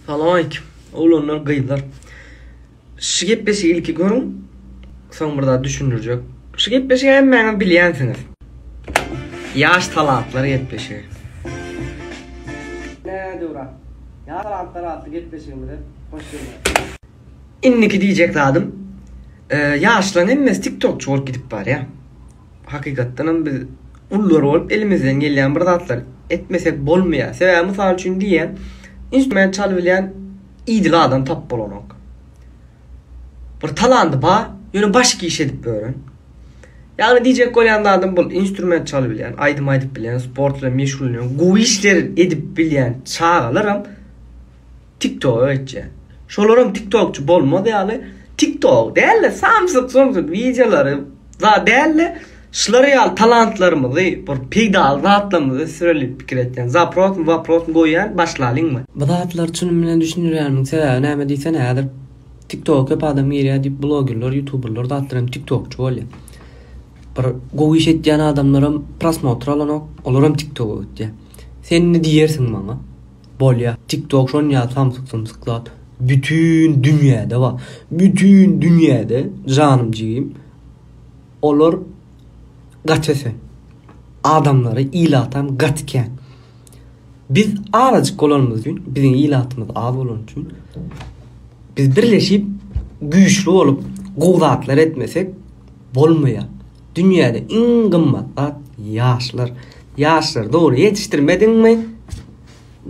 Salam aleýkim oglanlar gyzlar Şu gepleşigi ilki görüň soň bir zat düşündirjek Şu gepleşigi hemmäňiz bilýänsiňiz Ýaş talantlar gepleşigi Ine döwra Ýaş talantlar atly gepleşigimize hoş geldiňiz. Indiki diýjek zadym Ýaşlaryň hemmesi tiktokçy bolup gidip barýa hakykatdanam biz gullar bolup elimizden gelýän bir zatlar etmesek bolmaýar. Sebäbi mysal üçin diýýän, instrument çalyp bilýän idil adam tapyp bolanok. Bir talandy bar, ýöne başga iş edip ýören. Ýagny diýjek bolýan zadym bul, instrument çalyp bilýän, aýdym aýdyp bilýän, sport bilen meşgullanýan, gowy işler edip bilýän çagalaram Tiktoga geçýän. Şolaram tiktokçy bolmaz ýaly tiktok däl-de samsyk-sumsyk wideolary za däl-de şular ýaly talantlarymyzy bir peýdaly zatlarymyzy ösdüreliip pikir etýän. Zaprosmy waprosmy goýýan başlalyňmy. Bu zatlary çynym bilen düşündirýänimiň sebäbi näme diýsene häzir tiktoga köp adam girýär diýip blogerler ýutuberler zatlar hem tiktokçy bolýar. Bir gowy iş etýän adamlaram prosmotr alanok olaram tiktoga gitýär. Sen indi diýersiň maňa. Bolýa tik tok şon ýaly samsyk sumsyklap bütin dünýäde bar bütin dünýäde janym jigim olar gaty sen adamlary ilatam gaty kän biz azajyk bolanymyz üçin biziň ilatymyz az bolany üçin biz birleşip güýçli bolup gowy zatlar etmesek bolmaýar Dünýäde iň gymmat zat ýaşlar. Ýaşlary dogry ýetişdirmediňmi,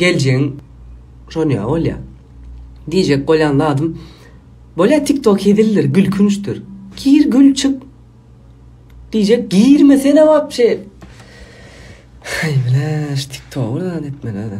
geljegiň şon ýaly bolýar. Diýjek bolýan zadym, bolýar tiktok hezildir, gülkünçdir. Gir gül çyk. Diýjek girmesene wapşe. Haý bläş tiktogy zan etmeli.